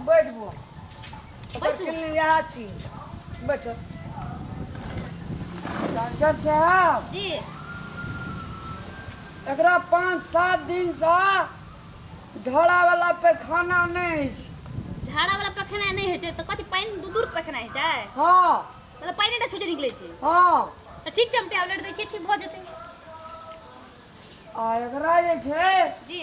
बैठबो ओकर बैसू। फिल्म इएह छी बैठो डॉक्टर साहब जी एकरा पाँच सात दिनसँ झड़ावला पैखाना नहि अछि झाड़ा वाला पखेनाइ नहि होइ छै तऽ कथी पानि दूर दूर पखेनाइ होइ छै हँ मतलब पानि एकटा छुटे निकलै छै हँ तऽ ठीक छै हम टैबलेट दै छियै ठीक भऽ जेतै आ एकरा जे छै जी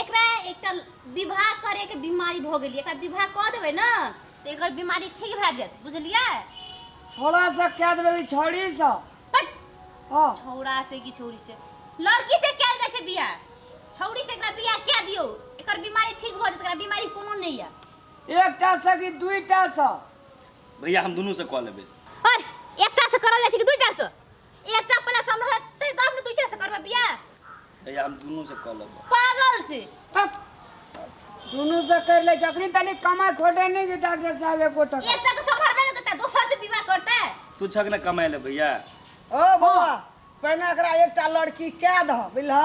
एकरा एकटा विवाह करैके बीमारी भऽ गेलियै एकरा विवाह कऽ देबै ने तऽ एकर बीमारी ठीक भए जायत बुझलियै छोड़ा से कह देबै ई छोड़ी से पट हाँ छौड़ा से कि छौड़ी से लड़की से कयल जाइ छै बियाह छौड़ी से एकरा बियाह कए दियौ एकर बीमारी ठीक भऽ जायत एकरा बीमारी कोनो नहि यऽ एकटा से कि दुईटा से भैया हम दुनू से कऽ लेबै अरे एकटा से करल जाइ छै कि दुईटा से एकटा प्लस हम रहते तब ने दुइटा से करबे बियाह ए हम दुनू से कॉल लेबो पागल छी हट। दुनू से कर ले जखनी तनी कमाई खोटे नहीं जे डॉक्टर साहब एको टका एकटा तो संभरबे न करता दोसर से विवाह करता तू छक ना कमाए ले भैया ओ बौआ पहिने एकरा एकटा लड़की कए दह बुझलह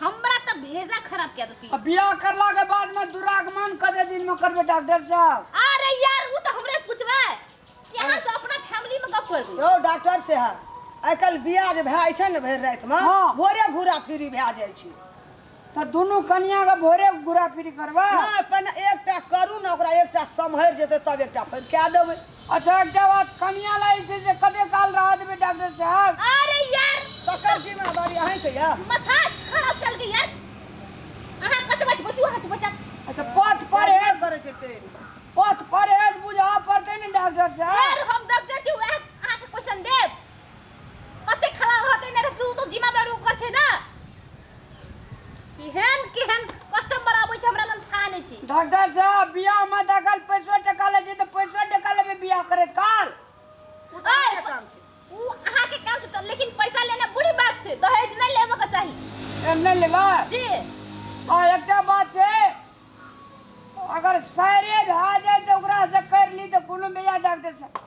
हमरा तऽ भेजा खराब कए देती आ बियाह करला के बाद में दुरागमन कते दिन में करबे डॉक्टर साहब अरे यार उ तऽ हमरे पूछबे कि अहाँ से अपना फैमिली में गप करबू यौ डॉक्टर साहब आइ काल्हि बियाह जे भए जाइ छै ने भरि रातिमे हँ। भोरे घूरा फिरी भए जाइ छै तऽ दुनू कनिया के भोरे गुरा फिरी करबै नहि पहिने एकटा करू ने ओकरा एकटा सम्हरि जेतै तब एकटा फेर कए देबै अच्छा एकटा बात कनिया लागै छै से कते काल रह देबै डॉक्टर साहब अरे यार तकर जिम्मेदारी अहीं के या माथा खराब चल गई यार अहाँ कत बच बसु अहाँ चुप बचा अच्छा पथ पर है करे छै ते पथ पर है बुझा पड़ते ने डॉक्टर साहब यार हम डॉक्टर छी वह अहाँ के क्वेश्चन देब कते खराब रहते ने तू तो जिमा पर ऊपर छे ना केहन केहन कस्टमर आबै छै हमरा लग खा नै छी डॉक्टर साहब बियाह में दखल पैसो टका ले छै त पैसो टका लेबे बियाह करे काल उ त ओए, काम छै उ अहाँ के काम छै त लेकिन पैसा लेना बुरी बात छै दहेज नै लेबे के चाही एम नै लेबा जी आ एकटा बात छै अगर सायरे भए जाए त ओकरा से कर ली त कोनो बियाह डॉक्टर साहब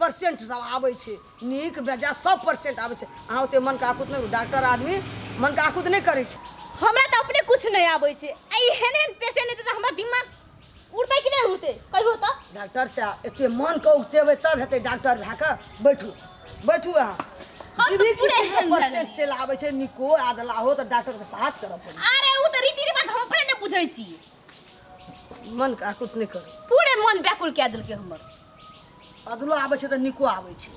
परसेंट सब आबै छै नीक बेजा सब परसेंट आबै छै अहाँ ओते मन काकुत नहि डॉक्टर आदमी मन काकुत नहि करै छै हमरा तऽ अपने कुछ नहि आबै छै आ ई हेन हेन पेशेंट हेतै तऽ हमरा दिमाग उड़तै कि नहि उड़तै कहियो तऽ डॉक्टर साहब एते मन के उगतेबै तब हेतै डॉक्टर भए कऽ बैठू बैठू अहाँ हम तऽ दीदी पूरे किसी के एहन परसेंट चलि आबै छै निको आदला हो तऽ डॉक्टर के साहस करऽ पड़ै अरे उ तऽ रीति रिवाज हम अपने नहि बुझै छी मन के आकुत नहि करू पूरे मन व्याकुल कए देलकै हमर अधलो आबै छै तऽ नीको आबै छै